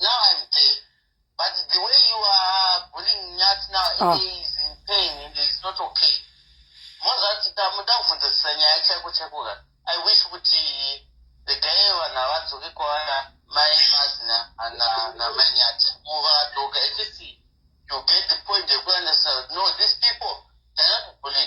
Now I'm there. But the way you are bullying Nyati now, oh. he is in pain and he is not okay. Mozati tamuda kuvhunzisisa nyaya chaiko chaiko ka. I wish kuti the guy vanhu havadzoke kwaana mai mazina ana na mai Nyati. Muva doka at least you get the point yekuandisa no these people cannot bully.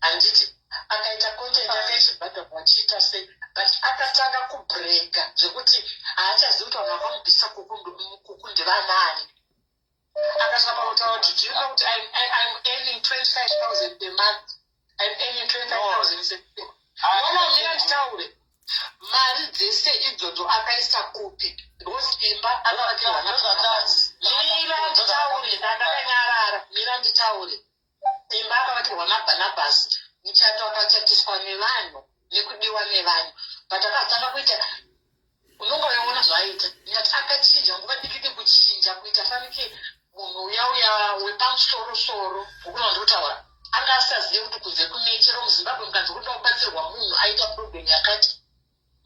handiti akaita content yake ichibhadha vachiita sei but akatanga kubrega zvekuti haachazivi kuti vanhu vakamubvisa kuku ndevanaani akasvika pakutaura kuti do you know kuti im earning 25000 per month im earning 25000 wamamira nditaure mari dzese idzodzo akaisa kupi because imba akavakira vana mira nditaure ndakanyarara mira nditaure Simba akavatirwa naBhanabhasi, muchato wakachatiswa nevanhu nekudiwa nevanhu. But akatanga kuita unonga uyaona zvaaita ndati akachinja nguva dikidi kuchinja kuita fanike munhu uya uya wepamusoro soro ukuna ndikutaura anga asazive kuti kunze kune chero muzimbabwe mukanzi kuda kubatsirwa munhu aita problem yakati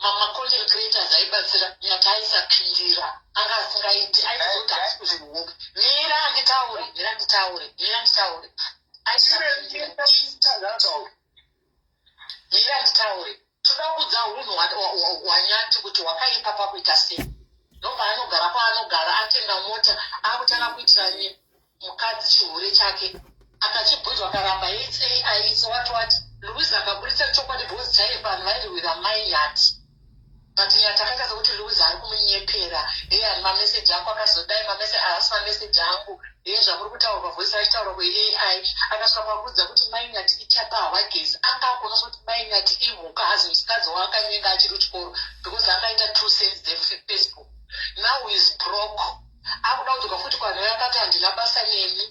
mamacontent creators aibatsira nyati aisapindira anga asingaiti aizoti asi kuzvihoka mira anditaure mira nditaure mira nditaure mira nditaure toda kudza hunhu hwanyati kuti hwakaipa pakuita sei nobva anogara kwaanogara atenga mota akutanga kuitira nyika mukadzi chihure chake akachibhunja akaramba its ai its what what louis akaburitsa chokwadi because chaiye vanhu vairwira mai yati but nyati akaita sekuti louis ari kumunyepera heye ani mameseji ako akazodai mameseji ahasi mameseji angu heye zvakuri kutaurwa voisi vachitaurwa kweai akasvika kwakuudza kuti mai nyati ichapa hawagezi anga akuonesa kuti mai nyati imhuka hazi musikadzi waakanyenga achiri kuchikoro because akaita two cents dzefacebook now is broke akuda kudzoka futi kwanhu yakati handina basa nemi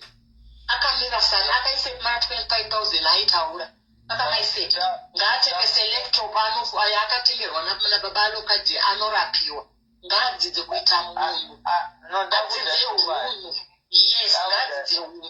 akamira sani akaise mari 25000 aitaura akamaiseti ngaatengese laptop ayo akatengerwa nababa alokadi anorapiwa ngaadzidze kuita munhu adzidzire unhu yes ngaadzidze unhu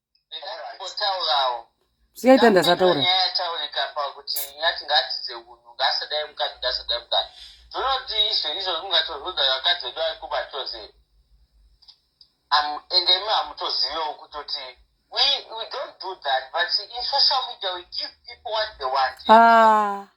sikaita ndasataura zvinoti izvo izvo zvingatozodza vakadzi vedu vari kuba chose ende imi hamutozivewo kutoti we, we don't do that but in social media we give people what they want ah.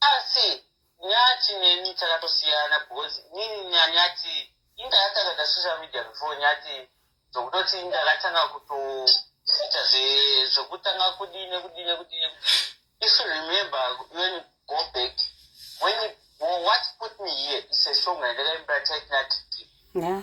asi nyati neni takatosiyana because nini nanyati inga yatanga da social media before nyati zvokutoti inga yakatanga kutoita zvokutanga kudii nekudii nekudii nekudii if you remember when you go back when you, what put me here is a song yandakaimbira taitinati yeah.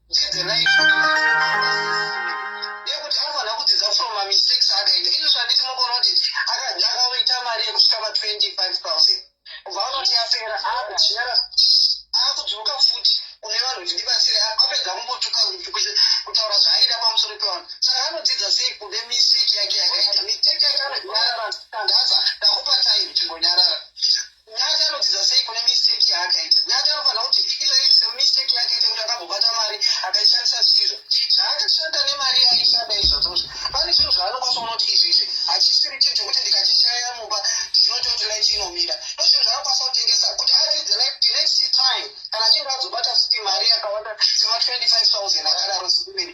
Chidzirai yekuti anogona kudzidza from mamistakes akaita izvo zvanditi mogona kuti akaita mari yekusvika ma 25 000 kubva vanoti yapera akudyara akudzoka futi kune vanhu kuti ndibatsire apedza kumbotuka kutaura zvaaida pamusoro pevanhu saka anodzidza sei kune mistake yake yakaita mistake yake anonyarara ndaza ndakupa time chimbonyarara Nyati anodzidza sei kune mistake yaakaita? Nyati anofanira kuti izvozvi semistake yaakaita kuti akambobata mari akaishandisa zvisizvo. Zvaakashanda nemari yaaishanda izvozvozvo. Pane zvinhu zvaanokwanisa kuona kuti izvi izvi hachisiri chinhu chokuti ndikachishaya mumba chinoita kuti light inomira. Ndozvinhu zvaanokwanisa kutengesa kuti aridze light the next time kana achinge azobata futi mari yakawanda sema 25,000 akadaro sekumberi.